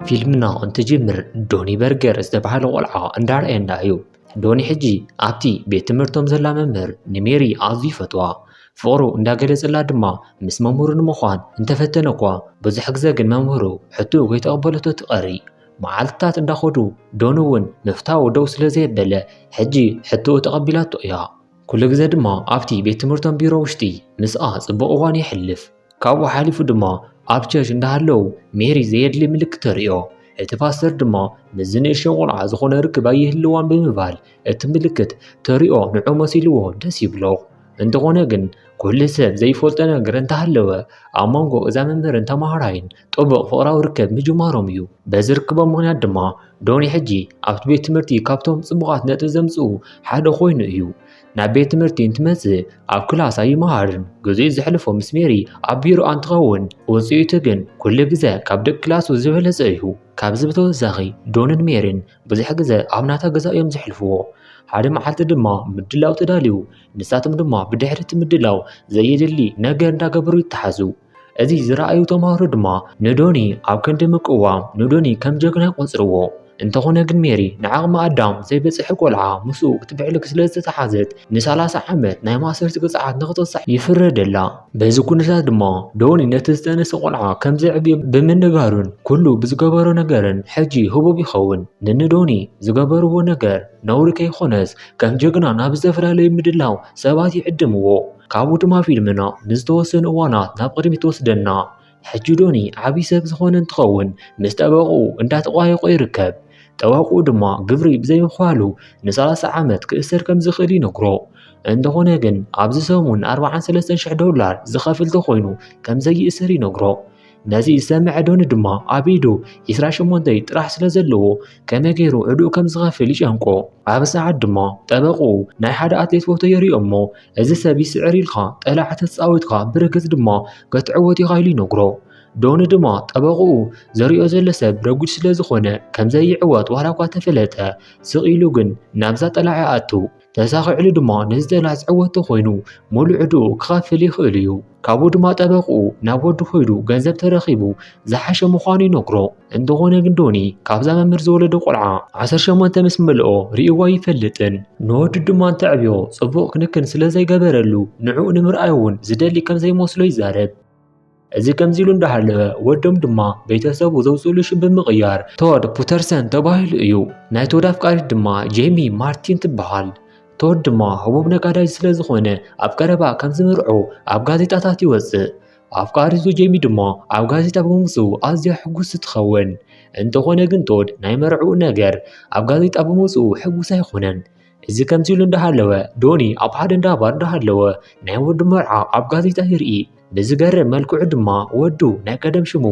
ፊልምና እንትጅምር ዶኒ በርገር ዝተባህለ ቆልዓ እንዳርኣየና እዩ ዶኒ ሕጂ ኣብቲ ቤት ትምህርቶም ዘላ መምህር ንሜሪ ኣዝዩ ይፈትዋ ፍቕሩ እንዳገለጸላ ድማ ምስ መምህሩ ንምዃን እንተፈተነ እኳ ብዙሕ ግዘ ግን መምህሩ ሕትኡ ከይተቐበለቶ ትቐሪ መዓልትታት እንዳኸዱ ዶኒ እውን ምፍታው ደው ስለ ዘየበለ ሕጂ ሕትኡ ተቐቢላቶ እያ ኩሉ ግዜ ድማ ኣብቲ ቤት ትምህርቶም ቢሮ ውሽጢ ምስኣ ጽቡቕ እዋን የሕልፍ። ካብኡ ሓሊፉ ድማ ኣብ ቸርች እንዳሃለው ሜሪ ዘየድሊ ምልክት ተርእዮ። እቲ ፓስተር ድማ ምስዚ ንእሽቶ ቆልዓ ዝኾነ ርክብ ኣይህልዋን ብምባል እቲ ምልክት ተርእዮ ንዑ መሲልዎ ደስ ይብሎ። እንተኾነ ግን ኩሉ ሰብ ዘይፈልጦ ነገር እንተሃለወ ኣብ መንጎ እዛ መምህርን ተማሃራይን ጥቡቕ ፍቕራዊ ርክብ ምጅማሮም እዩ። በዚ ርክቦም ምኽንያት ድማ ዶኒ ሕጂ ኣብቲ ቤት ትምህርቲ ካብቶም ጽቡቓት ነጥቢ ዘምጽኡ ሓደ ኮይኑ እዩ። ናብ ቤት ትምህርቲ እንትመጽእ ኣብ ክላስ ኣይመሃርን። ግዜኡ ዘሕልፎ ምስ ሜሪ ኣብ ቢሮ ኣንትኸውን ውጽኢቱ ግን ኩሉ ግዘ ካብ ደቂ ክላሱ ዝበለጸ እዩ። ካብዚ ብተወሳኺ ዶንን ሜሪን ብዙሕ ግዘ ኣብ ናታ ገዛ እዮም ዘሕልፍዎ። ሓደ መዓልቲ ድማ ምድላው ተዳልዩ፣ ንሳቶም ድማ ብድሕሪ እቲ ምድላው ዘየድሊ ነገር እንዳገበሩ ይተሓዙ። እዚ ዝረኣዩ ተምሃሮ ድማ ንዶኒ ኣብ ክንዲ ምቅዋም ንዶኒ ከም ጀግና ይቆጽርዎ። እንተኾነ ግን ሜሪ ንዓቕሚ ኣዳም ዘይበጽሐ ቆልዓ ምስኡ ክትብዕልክ ስለ ዝተተሓዘት ንሰላሳ ዓመት ናይ ማእሰርቲ ቅጽዓት ንክትቕጻዕ ይፍረደላ። በዚ ኩነታት ድማ ዶኒ ነቲ ዝተነሰ ቆልዓ ከም ዘዕብዮ ብምንጋሩን ኩሉ ብዝገበሮ ነገርን ሕጂ ህቡብ ይኸውን። ንንዶኒ ዝገበርዎ ነገር ነውሪ ከይኾነስ ከም ጀግና ናብ ዝተፈላለዩ ምድላው ሰባት ይዕድምዎ። ካብኡ ድማ ፊልምና ንዝተወሰኑ እዋናት ናብ ቅድሚት ትወስደና። ሕጂ ዶኒ ዓብዪ ሰብ ዝኾነ እንትኸውን ምስ ጠበቕኡ እንዳተቋየቆ ይርከብ። ጠበቕኡ ድማ ግብሪ ብዘይምኽፋሉ ንሰላሳ ዓመት ክእሰር ከም ዝኽእል ይነግሮ። እንተኾነ ግን ኣብዚ ሰሙን ኣርብዓን ሰለስተን ሽሕ ዶላር ዝኸፍል ተኾይኑ ከም ዘይእሰር ይነግሮ። ነዚ ዝሰምዐ ዶኒ ድማ ኣብ ኢዱ 28 ጥራሕ ስለ ዘለዎ ከመይ ገይሩ ዕድኡ ከም ዝኸፍል ይጨንቆ ኣብ ሰዓት ድማ ጠበቕኡ ናይ ሓደ ኣትሌት ፎቶ የርእዮ እሞ እዚ ሰብ ይስዕር ኢልካ ጠላዕ ተፃዊትካ ብርግፅ ድማ ክትዕወት ኢኻ ኢሉ ይነግሮ ዶኒ ድማ ጠበቕኡ ዘሪኦ ዘሎ ሰብ ረጒድ ስለ ዝኾነ ከምዘይዕወት ዋላ እኳ ተፈለጠ ስቕ ኢሉ ግን ናብዛ ጠላዕ ይኣቱ ተሳኺዕሉ ድማ ንዝጠላስ ዕወቱ ኮይኑ ሙሉእ ዕድኡ ክኸፍል ይኽእል እዩ። ካብኡ ድማ ጠበቕኡ ናብ ወዱ ኮይዱ ገንዘብ ተረኺቡ ዝሓሸ ምዃኑ ይነግሮ። እንተኾነ ግን ዶኒ ካብዛ መምህር ዝወለደ ቆልዓ ዓሰርተ ሸሞንተ ምስ መልኦ ርእይዎ ኣይፈልጥን። ንወዱ ድማ እንተዕብዮ ጽቡቕ ክንክን ስለ ዘይገበረሉ ንዕኡ ንምርኣይ እውን ዝደሊ ከም ዘይመስሎ ይዛረብ። እዚ ከምዚሉ እንዳሃለወ ወዶም ድማ ቤተሰቡ ዘውፅእሉ ሽም ብምቕያር ቶድ ፑተርሰን ተባሂሉ እዩ። ናይ ቶድ ኣፍቃሪት ድማ ጄሚ ማርቲን ትበሃል። ቶድ ድማ ህቡብ ነጋዳይ ስለ ዝኾነ ኣብ ቀረባ ከም ዝምርዑ ኣብ ጋዜጣታት ይወጽእ። ኣፍቃሪቱ ጄሚ ድማ ኣብ ጋዜጣ ብምውጽኡ ኣዝያ ሕጉስቲ ትኸውን። እንተኾነ ግን ቶድ ናይ መርዕኡ ነገር ኣብ ጋዜጣ ብምውጽኡ ሕጉስ ኣይኮነን። እዚ ከምዚ ኢሉ እንዳሃለወ ዶኒ ኣብ ሓደ እንዳ ባር እንዳሃለወ ናይ ወዱ መርዓ ኣብ ጋዜጣ ይርኢ ብዝገርም መልክዑ ድማ ወዱ ናይ ቀደም ሽሙ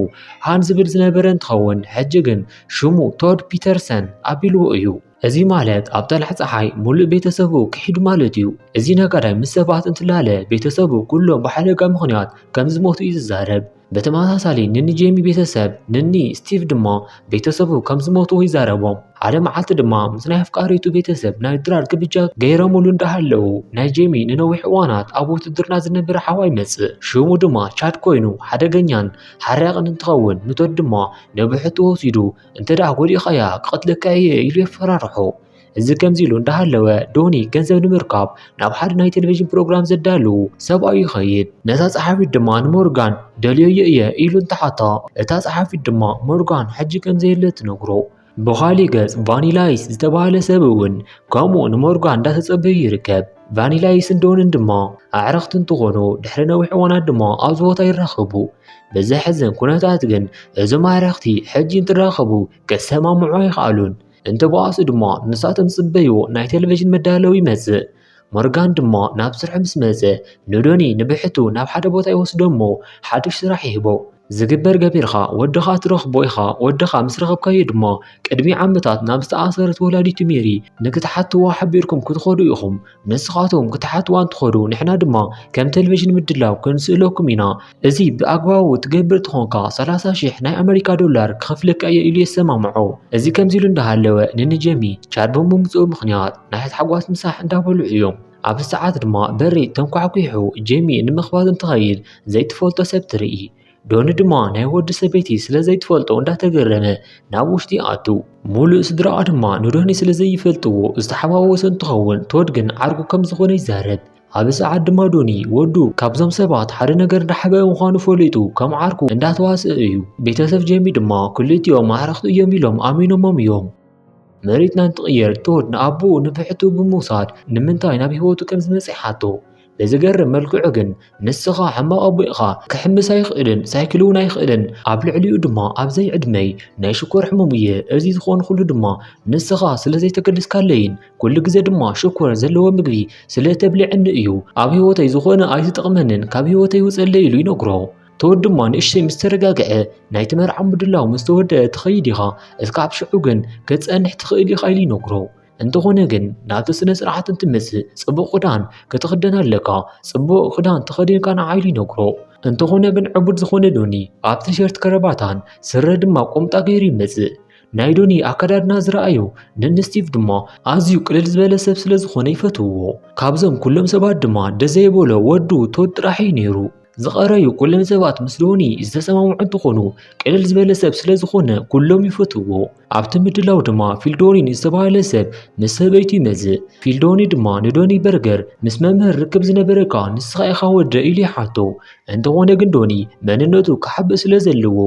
ሃን ዝብል ዝነበረ እንትኸውን ሕጂ ግን ሽሙ ቶድ ፒተርሰን ኣቢልዎ እዩ። እዚ ማለት ኣብ ጠላዕ ፀሓይ ሙሉእ ቤተሰቡ ክሒዱ ማለት እዩ። እዚ ነጋዳይ ምስ ሰባት እንትላለ ቤተሰቡ ኩሎም ብሓደጋ ምኽንያት ከም ዝሞቱ እዩ ዝዛረብ። ብተመሳሳሊ ንኒ ጄሚ ቤተሰብ ንኒ ስቲቭ ድማ ቤተሰቡ ከም ዝሞቱ ይዛረቦም። ሓደ መዓልቲ ድማ ምስ ናይ ኣፍቃሪቱ ቤተሰብ ናይ ድራር ግብጃ ገይረምሉ እንዳሃለዉ ናይ ጄሚ ንነዊሕ እዋናት ኣብ ውትድርና ዝነበረ ሓዋ ይመጽእ። ሽሙ ድማ ቻድ ኮይኑ ሓደገኛን ሓራቕን እንትኸውን ንቶድ ድማ ንብሕቱ ወሲዱ እንተደኣ ጎዲእካያ ክቐትለካ እየ ኢሉ የፈራርሖ። እዚ ከምዚ ኢሉ እንዳሃለወ ዶኒ ገንዘብ ንምርካብ ናብ ሓደ ናይ ቴሌቪዥን ፕሮግራም ዘዳሉ ሰብኣዩ ይኸይድ። ነታ ጸሓፊት ድማ ንሞርጋን ደልዮዮ እየ ኢሉ እንተሓታ እታ ጸሓፊት ድማ ሞርጋን ሕጂ ከም ዘየለ ትነግሮ። ብኻሊእ ገጽ ቫኒላይስ ዝተባህለ ሰብ እውን ከምኡ ንሞርጋን እንዳተጸበዩ ይርከብ። ቫኒላይስን ዶንን ድማ ኣዕርኽቲ እንትኾኑ ድሕሪ ነዊሕ እዋናት ድማ ኣብዚ ቦታ ይራኸቡ። ብዘሕዝን ኩነታት ግን እዞም ኣዕርኽቲ ሕጂ እንትራኸቡ ክሰማምዑ ኣይኸኣሉን። እንተበኣሱ ድማ ንሳቶም ዝጽበይዎ ናይ ቴሌቭዥን መዳለዊ ይመጽእ። ሞርጋን ድማ ናብ ስርሑ ምስ መጸ ንዶኒ ንብሕቱ ናብ ሓደ ቦታ ይወስዶ እሞ ሓዱሽ ስራሕ ይህቦ። ዝግበር ገቢርካ ወድኻ ትረኽቦ ኢኻ፣ ወድኻ ምስ ረኸብካዮ ድማ ቅድሚ ዓመታት ናብ ዝተኣሰረት ወላዲቱ ሜሪ ንክትሓትዋ ሓቢርኩም ክትኸዱ ኢኹም። ንስኻቶም ክትሓትዋ እንትኾዱ ንሕና ድማ ከም ቴሌቪዥን ምድላው ክንስእለኩም ኢና እዚ ብኣግባቡ ትገብር ትኾንካ 30 ሽሕ ናይ ኣመሪካ ዶላር ክኸፍለካ እየ ኢሉ የሰማምዖ እዚ ከምዚ ኢሉ እንዳሃለወ ንንጀሚ ቻድ ብምምፅኡ ምክንያት ናይ ሓጓስ ምሳሕ እንዳበልዑ እዮም ኣብዚ ሰዓት ድማ በሪ ተንኳሕኲሑ ጀሚ ንምኽባዝ እንትኸይድ ዘይትፈልጦ ሰብ ትርኢ ዶኒ ድማ ናይ ወዲ ሰበይቲ ስለ ዘይትፈልጦ እንዳተገረመ ናብ ውሽጢ ኣቱ ሙሉእ ስድራኣ ድማ ንዶኒ ስለ ዘይፈልጥዎ ዝተሓዋወሰ እንትኸውን ቶድ ግን ዓርኩ ከም ዝኾነ ይዛረብ ኣብዚ ሰዓት ድማ ዶኒ ወዱ ካብዞም ሰባት ሓደ ነገር እንዳሓበአ ምዃኑ ፈሊጡ ከም ዓርኩ እንዳተዋስአ እዩ ቤተሰብ ጀሚ ድማ ክልቲኦም ኣዕርኽቲ እዮም ኢሎም ኣሚኖሞም እዮም መሬትና እንትቕየር ቶድ ንኣቦኡ ንብሕቱ ብምውሳድ ንምንታይ ናብ ህይወቱ ከም ዝመፅእ ሓቶ ብዝገርም መልክዑ ግን ንስኻ ሕማቕ ኣቦ ኢኻ ክሕምስ ኣይኽእልን ሳይክል እውን ኣይኽእልን ኣብ ልዕሊኡ ድማ ኣብዘይ ዕድመይ ናይ ሽኮር ሕሙም እየ እዚ ዝኾንኩሉ ድማ ንስኻ ስለ ዘይተገደስካለይን ኩሉ ግዜ ድማ ሽኮር ዘለዎ ምግቢ ስለ እተብልዐኒ እዩ ኣብ ህይወተይ ዝኾነ ኣይትጠቕመንን ካብ ህይወተይ ውፀለይ ኢሉ ይነግሮ ተወድ ድማ ንእሽተይ ምስ ተረጋግዐ ናይቲ መርዓ ምድላው ምስ ተወደአ ትኸይድ ኢኻ እስካብ ሽዑ ግን ክትፀንሕ ትኽእል ኢኻ ኢሉ ይነግሮ እንተኾነ ግን ናብቲ ስነ ስርዓት እንትመጽእ ጽቡቕ ክዳን ክትኽደን ኣለካ ጽቡቕ ክዳን ተኸዲንካ ንዓይሉ ይነግሮ እንተኾነ ግን ዕቡድ ዝኾነ ዶኒ ኣብ ቲሸርት ከረባታን ስረ ድማ ቁምጣ ገይሩ ይመጽእ ናይ ዶኒ ኣከዳድና ዝረኣዩ ንንስቲቭ ድማ ኣዝዩ ቅልል ዝበለ ሰብ ስለ ዝኾነ ይፈትውዎ ካብዞም ኩሎም ሰባት ድማ ደዘይበሎ ወዱ ቶድ ጥራሕ እዩ ነይሩ ዝቐረዩ ኩለን ሰባት ምስ ዶኒ ዝተሰማምዑ እንትኾኑ ቅልል ዝበለ ሰብ ስለ ዝኾነ ኩሎም ይፈትዎ። ኣብቲ ምድላው ድማ ፊልዶኒ ንዝተባህለ ሰብ ምስ ሰበይቱ ይመዝእ። ፊልዶኒ ድማ ንዶኒ በርገር ምስ መምህር ርክብ ዝነበረካ ንስኻ ኢኻ ወደ ኢሉ ይሓቶ። እንተኾነ ግን ዶኒ መንነቱ ክሓብእ ስለ ዘለዎ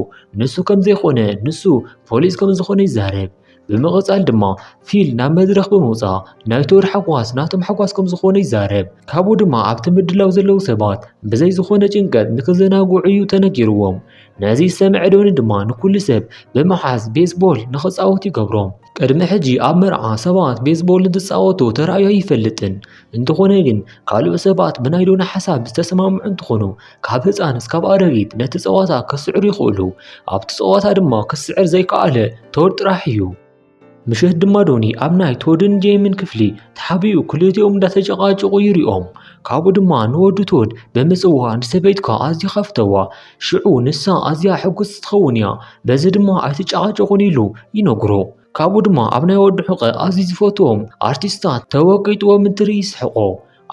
ንሱ ከም ዘይኮነ ንሱ ፖሊስ ከም ዝኾነ ይዛረብ። ብምቕጻል ድማ ፊል ናብ መድረኽ ብምውጻእ ናይ ቶር ሓጓስ ናቶም ሓጓስ ከም ዝኾነ ይዛረብ። ካብኡ ድማ ኣብቲ ምድላው ዘለዉ ሰባት ብዘይ ዝኾነ ጭንቀት ንክዘናግዑ እዩ ተነጊርዎም። ነዚ ዝሰምዐ ዶኒ ድማ ንኩሉ ሰብ ብምሓዝ ቤዝቦል ንኽጻወቱ ይገብሮም። ቅድሚ ሕጂ ኣብ መርዓ ሰባት ቤዝቦል እንትጻወቱ ተራእዩ ኣይፈልጥን። እንተኾነ ግን ካልኦት ሰባት ብናይ ዶና ሓሳብ ዝተሰማምዑ እንትኾኑ ካብ ህፃን እስካብ ኣረጊት ነቲ ፀዋታ ክስዕሩ ይኽእሉ። ኣብቲ ፀዋታ ድማ ክስዕር ዘይከኣለ ቶድ ጥራሕ እዩ። ምሸት ድማ ዶኒ ኣብ ናይ ቶድን ጄምን ክፍሊ ተሓቢኡ ክልቲኦም እንዳተጨቃጨቁ ይሪኦም። ካብኡ ድማ ንወዱ ቶድ ብምፅዋ ንሰበይትካ ኣዝዩ ከፍተዋ ሽዑ ንሳ ኣዝያ ሕጉስ ትኸውን እያ በዚ ድማ ኣይትጨቃጨቁን ኢሉ ይነግሮ። ካብኡ ድማ ኣብ ናይ ወዲ ሕቐ ኣዝዩ ዝፈትዎም ኣርቲስታት ተወቂጥዎ ምድሪ ይስሕቆ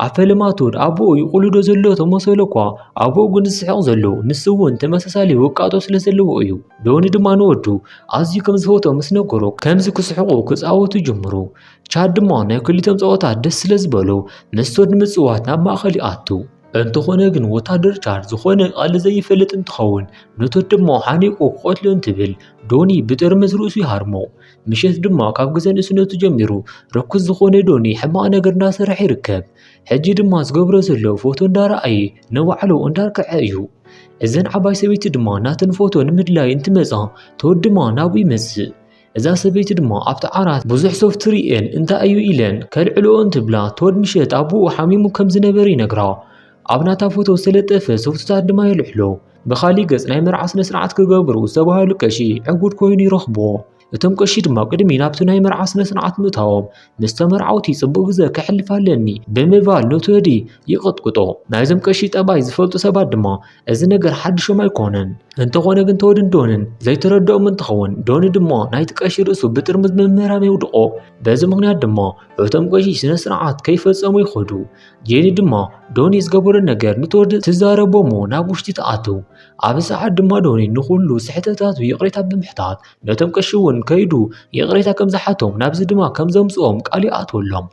ኣብ ፈለማቱ ኣቦኡ ይቑልዶ ዘሎ ተመሰሎ እኳ ኣቦኡ ግን ዝስሕቕ ዘሎ ንሱ እውን ተመሳሳሊ ውቃጦ ስለ ዘለዎ እዩ ዶኒ ድማ ንወዱ ኣዝዩ ከም ዝፈቶ ምስ ነገሮ ከምዚ ክስሕቁ ክፃወቱ ጀምሩ ቻድ ድማ ናይ ክልቲኦም ፀወታ ደስ ስለ ዝበሎ ምስ ቶድ ንምፅዋት ናብ ማእኸል ይኣቱ እንተኾነ ግን ወታደር ቻድ ዝኾነ ቃል ዘይፈልጥ እንትኸውን ነቶት ድማ ሓኒቁ ክቐትሎ እንትብል ዶኒ ብጥርምዝ ርእሱ ይሃርሞ። ምሸት ድማ ካብ ግዘ ንእስነቱ ጀሚሩ ርኩስ ዝኾነ ዶኒ ሕማቕ ነገር እንዳሰርሐ ይርከብ። ሕጂ ድማ ዝገብሮ ዘሎ ፎቶ እንዳረኣየ ንባዕሉ እንዳርክዐ እዩ። እዘን ዓባይ ሰበይቲ ድማ ናተን ፎቶ ንምድላይ እንትመፃ ተወድማ ናብኡ ይመፅእ። እዛ ሰበይቲ ድማ ኣብቲ ዓራት ብዙሕ ሶፍት ርእየን እንታይ እዩ ኢለን ከልዕልኦ እንትብላ ቶድ ምሸት ኣቦኡ ሓሚሙ ከም ዝነበረ ይነግራ ኣብ ናታ ፎቶ ዝተለጠፈ ሶፍትታት ድማ የልዕሎ። ብኻሊእ ገጽ ናይ መርዓ ስነ ስርዓት ክገብሩ ዝተባህሉ ቀሺ ዕጉድ ኮይኑ ይረኽቦ። እቶም ቀሺ ድማ ቅድሚ ናብቲ ናይ መርዓ ስነ ስርዓት ምእታዎም ምስ ተመርዓውቲ ጽቡቕ ግዘ ከሕልፍ ኣለኒ ብምባል ነቲ ወዲ ይቕጥቅጦ። ናይዞም ቀሺ ጠባይ ዝፈልጡ ሰባት ድማ እዚ ነገር ሓድሾም ኣይኮነን። እንተኾነ ግን ተወድን ዶንን ዘይተረድኦም እንትኸውን ዶኒ ድማ ናይቲ ቀሺ ርእሱ ብጥርሙዝ ምምህራም የውድቖ። በዚ ምክንያት ድማ እቶም ቀሺ ስነ ስርዓት ከይፈጸሙ ይኸዱ። ጄኒ ድማ ዶኒ ዝገበሮ ነገር ንተወዲ ትዛረቦ እሞ ናብ ውሽጢ ትኣትው። ኣብዚ ሰዓት ድማ ዶኒ ንኹሉ ስሕተታቱ ይቕሬታ ብምሕታት ነቶም ቀሺ እውን ከይዱ ይቕሬታ ከም ዝሓቶም ናብዚ ድማ ከም ዘምፅኦም ቃል ይኣትወሎም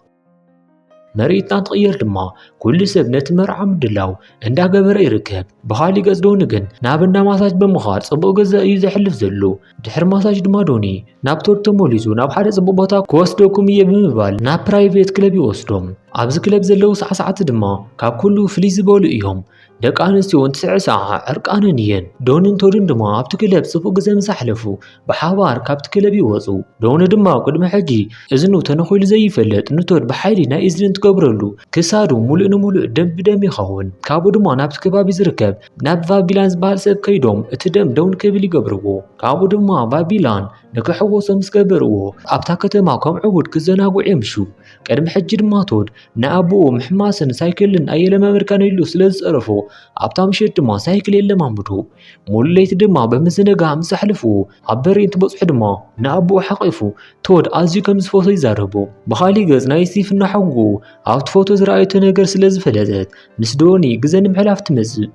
መሬትና እንትቕየር ድማ ኩሉ ሰብ ነቲ መርዓ ምድላው እንዳገበረ ይርከብ ብኻሊእ ገጽ ዶኒ ግን ናብ እንዳ ማሳጅ ብምኻድ ጽቡቕ ገዛ እዩ ዘሕልፍ ዘሎ ድሕሪ ማሳጅ ድማ ዶኒ ናብ ቶድ ተመሊሱ ናብ ሓደ ጽቡቕ ቦታ ክወስደኩም እየ ብምባል ናብ ፕራይቬት ክለብ ይወስዶም ኣብዚ ክለብ ዘለዉ ሳዕሳዕቲ ድማ ካብ ኩሉ ፍልይ ዝበሉ እዮም ደቂ ኣንስትዮ እውን ትስዕ ሰዓ ዕርቃነን እየን። ዶንን ቶድን ድማ ኣብቲ ክለብ ጽቡቕ ግዜ ምስ ኣሕለፉ ብሓባር ካብቲ ክለብ ይወጹ። ዶኒ ድማ ቅድሚ ሕጂ እዝኑ ተነኺሉ ዘይፈልጥ ንቶድ ብሓይሊ ናይ እዝኒ እንትገብረሉ ክሳዱ ሙሉእ ንሙሉእ ደም ብደም ይኸውን። ካብኡ ድማ ናብቲ ከባቢ ዝርከብ ናብ ቫቢላን ዝበሃል ሰብ ከይዶም እቲ ደም ደው ንክብል ይገብርዎ። ካብኡ ድማ ቫቢላን ንክሕወሶ ምስ ገበርዎ ኣብታ ከተማ ከም ዕቡድ ክዘናግዑ የምሹ። ቅድሚ ሕጂ ድማ ቶድ ንኣቦኡ ምሕማስን ሳይክልን ኣየለማመድካን ኢሉ ስለ ዝጸረፎ ኣብታ ምሸት ድማ ሳይክል የለማምዶ ሙሉ ለይቲ ድማ ብምዝንጋዕ ምስ ኣሕልፉ ኣብ በሪ እንትበጽሑ ድማ ንኣቦኡ ሓቂፉ ቶድ ኣዝዩ ከም ዝፈቶ ይዛረቦ ብኻሊእ ገጽ ናይ ስቲፍ እናሓጉ ኣብቲ ፎቶ ዝረኣየቶ ነገር ስለ ዝፈለጠት ምስ ዶኒ ግዘ ንምሕላፍ ትመጽእ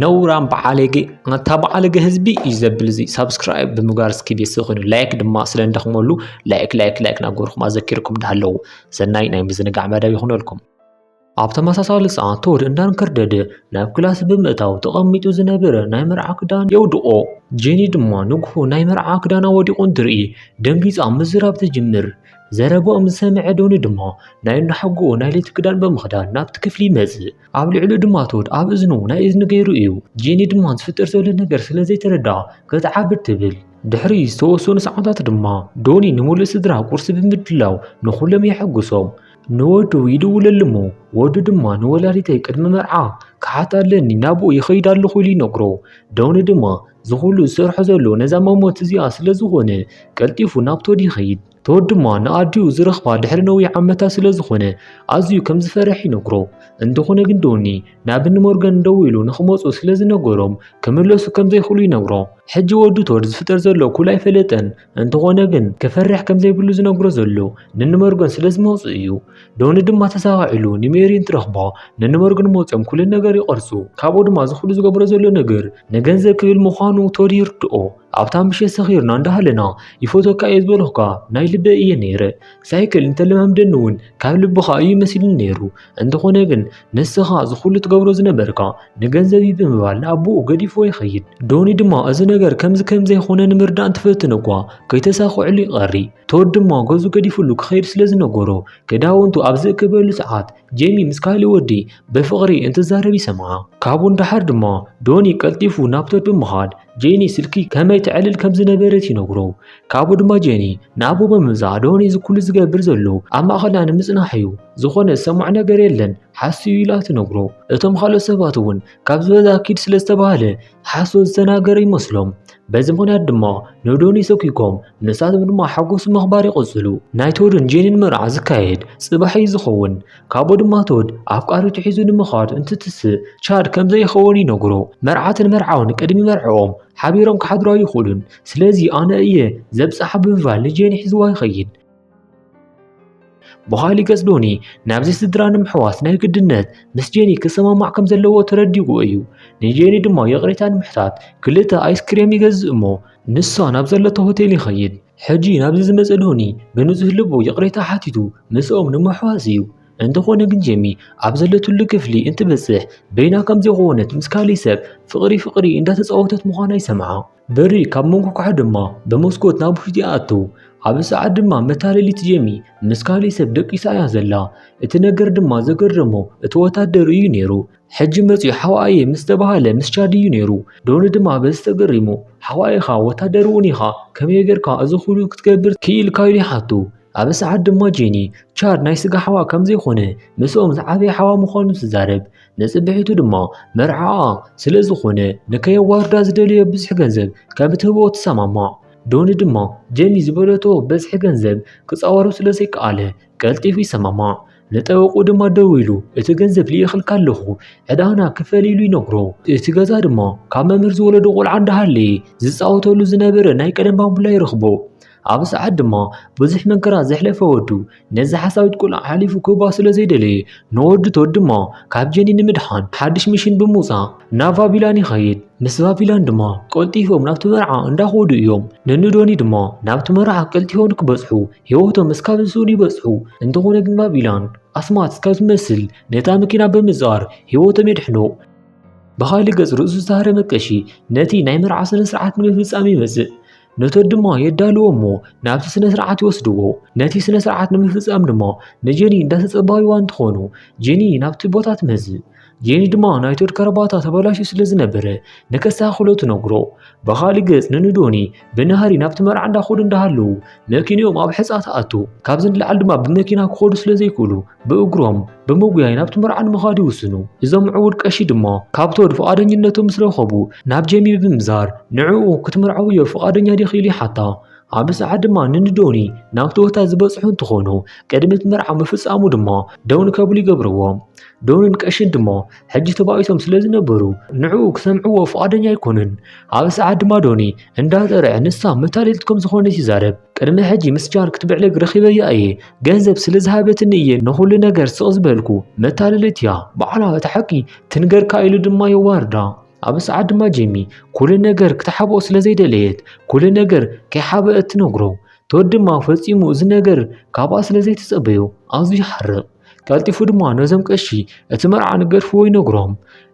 ነውራም በዓለጌ ኣታ በዓለጌ ህዝቢ እዩ ዘብል እዚ ሳብስክራይብ ብምግባር እስኪ ቤተሰብ ኮይኑ ላይክ ድማ ስለ እንደኽመሉ ላይክ ላይክ ላይክ ናገርኩም ኣዘኪርኩም እንዳሃለዉ ሰናይ ናይ ምዝንጋዕ መደብ ይኹነልኩም ኣብ ተመሳሳሊ ሰዓት ተወድ እንዳንከርደደ ናብ ክላስ ብምእታው ተቐሚጡ ዝነበረ ናይ መርዓ ክዳን የውድቖ ጄኒ ድማ ንግሆ ናይ መርዓ ክዳና ወዲቑ እንትርኢ ደንጊፃ ምዝራብ ትጅምር ዘረባኦም ዝሰምዐ ዶኒ ድማ ናይ እናሓጎ ናይ ለይቲ ክዳን ብምኽዳን ናብቲ ክፍሊ ይመፅእ ኣብ ልዕሉ ድማ ቶድ ኣብ እዝኑ ናይ እዝኒ ገይሩ እዩ ጄኒ ድማ ዝፍጠር ዘሎ ነገር ስለ ዘይተረድኣ ክትዓብድ ትብል ድሕሪ ዝተወሰኑ ሰዓታት ድማ ዶኒ ንምሉእ ስድራ ቁርሲ ብምድላው ንኹሎም የሐጉሶም ንወዱ ይድውለሉ እሞ ወዱ ድማ ንወላዲተይ ቅድሚ መርዓ ክሓት ኣለኒ ናብኡ ይኸይድ ኣለኹ ኢሉ ይነግሮ ዶኒ ድማ ዝኹሉ ዝሰርሖ ዘሎ ነዛ መሞት እዚኣ ስለ ዝኾነ ቀልጢፉ ናብ ቶድ ይኸይድ ተወድ ድማ ንኣዲኡ ዝረኽባ ድሕሪ ነዊሕ ዓመታት ስለ ዝኾነ ኣዝዩ ከም ዝፈርሕ ይነግሮ እንተኾነ ግን ዶኒ ናብኒ ሞርገን ደው ኢሉ ንኽመፁ ስለ ዝነገሮም ክምለሱ ከም ዘይኽእሉ ይነግሮ ሕጂ ወዱ ቶድ ዝፍጠር ዘሎ ኩል ኣይፈለጠን እንተኾነ ግን ክፈርሕ ከም ዘይብሉ ዝነግሮ ዘሎ ንንመርገን ስለ ዝመፁ እዩ ዶኒ ድማ ተሰኻዒሉ ንሜሪ እንትረኽባ ንንመርገን መፅኦም ኩልን ነገር ይቐርፁ ካብኡ ድማ ዝኽሉ ዝገብሮ ዘሎ ነገር ንገንዘብ ክብል ምዃኑ ቶድ ይርድኦ ኣብታ ምሸት ሰኺርና እንዳሃለና ይፈቶካ እየ ዝበልኹካ ናይ ልበይ እየ ነይረ ሳይክል እንተለማምደኒ እውን ካብ ልብኻ እዩ መሲሉኒ ነይሩ እንተኾነ ግን ንስኻ ዝኹሉ ትገብሮ ዝነበርካ ንገንዘብ እዩ ብምባል ንኣቦኡ ገዲፎ ይኸይድ ዶኒ ድማ እዚ ነገር ከምዚ ከምዘይኾነ ንምርዳእ እንትፈትን እኳ ከይተሳኽዕሉ ይቐሪ ቶድ ድማ ገዙ ገዲፍሉ ክኸይድ ስለ ዝነገሮ ክዳውንቱ ኣብ ዝእክበሉ ሰዓት ጄሚ ምስ ካሊ ወዲ ብፍቕሪ እንትዛረብ ይሰምዓ ካብኡ ንደሓር ድማ ዶኒ ቀልጢፉ ናብ ቶድ ብምኻድ ጄኒ ስልኪ ከመይ ትዕልል ከም ዝነበረት ይነግሮ ካብኡ ድማ ጄኒ ንኣቦ ብምምጻእ ዶኒ እዚ ኩሉ ዝገብር ዘሎ ኣብ ማእኸልና ንምጽናሕ እዩ ዝኾነ ዝሰምዖ ነገር የለን ሓሱ እዩ ኢላ ትነግሮ እቶም ካልኦት ሰባት እውን ካብ ዝበዛ ኪድ ስለ ዝተባሃለ ሓሶ ዝተናገረ ይመስሎም በዚ ምክንያት ድማ ንዶኒ ሰኪኮም ንሳቶም ድማ ሓጎሱ ምኽባር ይቕጽሉ ናይ ቶድን ጄኒን መርዓ ዝካየድ ጽባሕ እዩ ዝኸውን ካብኡ ድማ ቶድ ኣፍቃሪቱ ሒዙ ንምዃድ እንትትስእ ቻድ ከም ዘይኸውን ይነግሮ። መርዓትን መርዓውን ቅድሚ መርዕኦም ሓቢሮም ክሓድሩ ኣይኽእሉን። ስለዚ ኣነ እየ ዘብጽሓ ብምባል ንጄኒ ሒዝዋ ይኸይድ። ብኻሊእ ገጽ ዶኒ ናብዚ ስድራ ንምሕዋስ ናይ ግድነት ምስ ጄኒ ክሰማማዕ ከም ዘለዎ ተረዲኡ እዩ። ንጄኒ ድማ ይቕሬታ ንምሕታት ክልተ ኣይስክሬም ይገዝእ እሞ ንሳ ናብ ዘለቶ ሆቴል ይኸይድ። ሕጂ ናብዚ ዝመጸ ዶኒ ብንጹህ ልቡ ይቕሬታ ሓቲቱ ምስኦም ንምሕዋስ እዩ። እንተኾነ ግን ጀሚ ኣብ ዘለትሉ ክፍሊ እንትበጽሕ በይና ከም ዝኾነት ምስ ካሊ ሰብ ፍቕሪ ፍቕሪ እንዳተጻወተት ምዃና ይሰምዓ። በሪ ካብ መንኮኳሕ ድማ ብመስኮት ናብ ውሽጢ ኣቱ። ኣብ ሰዓት ድማ መታለሊት ጀሚ ምስ ካሊ ሰብ ደቂሳ እያ ዘላ። እቲ ነገር ድማ ዘገረሞ እቲ ወታደር እዩ ነይሩ። ሕጂ መጺኡ ሓዋኣየ ምስ ተባሃለ ምስ ቻድ እዩ ነይሩ። ዶኒ ድማ በዚ ተገሪሙ፣ ሓዋ ኢኻ፣ ወታደር እውን ኢኻ፣ ከመይ ጌርካ እዚ ዅሉ ክትገብር ክኢልካ? ኢሉ ይሓቱ። ኣብዚ ሰዓት ድማ ጄኒ፣ ቻድ ናይ ስጋ ሓዋ ከም ዘይኰነ፣ ምስኦም ዝዓበየ ሓዋ ምዃኑ ትዛረብ። ንጽብሒቱ ድማ መርዓኣ ስለ ዝዀነ ንከየዋርዳ ዝደለዮ ብዝሒ ገንዘብ ከም እትህቦ ትሰማማዕ። ዶኒ ድማ ጄኒ ዝበለቶ በዝሒ ገንዘብ ክጻወሮ ስለ ዘይከኣለ ቀልጢፉ ይሰማማዕ። ንጠበቑ ድማ ደዊሉ እቲ ገንዘብ ልኢኽልካ ኣለኹ ዕዳና ክፈል ኢሉ ይነግሮ። እቲ ገዛ ድማ ካብ መምህር ዝወለዶ ቆልዓ እንዳሃለየ ዝፃወተሉ ዝነበረ ናይ ቀደም ባምቡላ ይረኽቦ። ኣብ ሰዓት ድማ ብዙሕ መንከራ ዘሕለፈ ወዱ ነዚ ሓሳዊት ቆልዓ ሓሊፉ ክህባ ስለ ዘይደለየ ንወዱ ቶድ ድማ ካብ ጀኒ ንምድሓን ሓድሽ ሚሽን ብምውፃእ ናብ ቫቪላን ይኸይድ። ምስ ቫቪላን ድማ ቀልጢፎም ናብቲ መርዓ እንዳኸዱ እዮም። ንንዶኒ ድማ ናብቲ መርዓ ቀልጢፎም ንክበፅሑ ህይወቶም እስካብ ዝስእኑ ይበጽሑ። እንተኾነ ግን ባቢላን ኣስማት እስካብ ዝመስል ነታ መኪና ብምዛር ህይወቶም የድሕኑ። ብኻልእ ገጽ ርእሱ ዝተሃረመ ቀሺ ነቲ ናይ መርዓ ስነ ስርዓት ንምፍጻም ይመጽእ። ነቶት ድማ የዳልዎ እሞ ናብቲ ስነ ስርዓት ይወስድዎ። ነቲ ስነ ስርዓት ንምፍጻም ድማ ንጀኒ እንዳተጸባዩዋ እንትኾኑ ጀኒ ናብቲ ቦታ ትመጽእ። ጄኒ ድማ ናይ ቶድ ከረባታ ተበላሽዩ ስለ ዝነበረ ንከስተኻኽሎ ትነግሮ ብኻሊእ ገጽ ንንዶኒ ብናህሪ ናብቲ መርዓ እንዳኸዱ እንዳሃለዉ መኪንኦም ኣብ ሕጻ ትኣቱ ካብዚ ንላዕሊ ድማ ብመኪና ክኸዱ ስለ ዘይክእሉ ብእግሮም ብምጉያይ ናብቲ መርዓ ንምኻድ ይውስኑ እዞም ምዕቡል ቀሺ ድማ ካብ ቶድ ፍቓደኝነቶም ምስ ረኸቡ ናብ ጄሚ ብምዛር ንዕኡ ክትምርዓውዮ ፍቓደኛ ዲኺ ኢሉ ይሓታ ኣብ ሰዓት ድማ ንንዶኒ ናብ ቶዮታ ዝበፅሑ እንትኾኑ ቅድሚ እቲ መርዓ ምፍፃሙ ድማ ደውን ከብሉ ይገብርዎም ደውንን ቀሽን ድማ ሕጂ ተባኢሶም ስለ ዝነበሩ ንዕኡ ክሰምዕዎ ፍቓደኛ ኣይኮኑን ኣብ ሰዓት ድማ ዶኒ እንዳጠርዐ ንሳ መታለልት ከም ዝኾነት ይዛረብ ቅድሚ ሕጂ ምስ ጃን ክትብዕልግ ረኺበያ እየ ገንዘብ ስለ ዝሃበትኒ እየ ንኹሉ ነገር ስቕ ዝበልኩ መታለልት እያ ባዕላ እቲ ሓቂ ትንገርካ ኢሉ ድማ የዋርዳ ኣብ ሰዓት ድማ ጀሚ ኩሉ ነገር ክትሓብኦ ስለ ዘይደለየት ኩሉ ነገር ከይሓበአት ትነግሮ ቶድ ድማ ፈጺሙ እዚ ነገር ካብኣ ስለ ዘይተጸበዮ ኣዝዩ ይሓርቕ ቀልጢፉ ድማ ነዞም ቀሺ እቲ መርዓ ንገድፍዎ ይነግሮም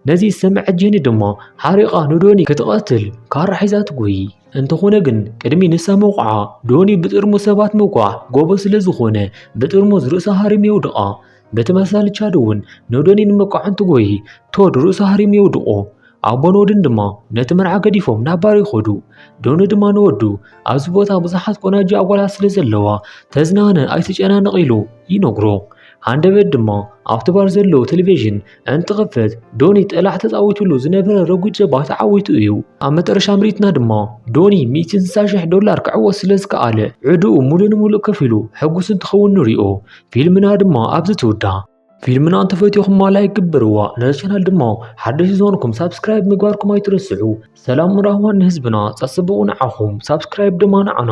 ነዚ ዝሰምዐ ጀኒ ድማ ሓሪቓ ንዶኒ ክትቐትል ካራ ሒዛ ትጎይ እንተኾነ ግን ቅድሚ ንሳ መውቕዓ ዶኒ ብጥርሙ ሰባት መውቃዕ ጎቦ ስለ ዝኾነ ብጥርሙዝ ርእሳ ሃሪም የውድቓ በቲ መሳሊ ቻድ እውን ኖዶኒ ንመቋዕንቲ ጎይ ቶድ ርእሱ ሃሪሙ የውድቆ። ኣቦን ወድን ድማ ነቲ መርዓ ገዲፎም ናብ ባር ይኸዱ። ዶኒ ድማ ንወዱ ኣብዚ ቦታ ብዙሓት ቆናጁ ኣጓላት ስለ ዘለዋ ተዝናነ ኣይትጨናነቕ ኢሉ ይነግሮ። ሃንደበት ድማ ኣብቲ ባር ዘሎ ቴሌቪዥን እንትኽፈት ዶኒ ጠላዕ ተፃዊቱሉ ዝነበረ ረጒድ ጀባ ተዓዊቱ እዩ ኣብ መጠረሻ ምርኢትና ድማ ዶኒ 160,000 ዶላር ክዕወት ስለ ዝከኣለ ዕድኡ ሙሉእ ንሙሉእ ከፊሉ ሕጉስ እንትኸውን ንሪኦ ፊልምና ድማ ኣብዚ ትውዳእ ፊልምና እንተፈትኹማ ላይክ ግበርዋ ነዚ ቻናል ድማ ሓደሽ ዝኾንኩም ሳብስክራይብ ምግባርኩም ኣይትረስዑ ሰላም ራህዋን ንህዝብና ፀፅብቑ ንዓኹም ሳብስክራይብ ድማ ንዓና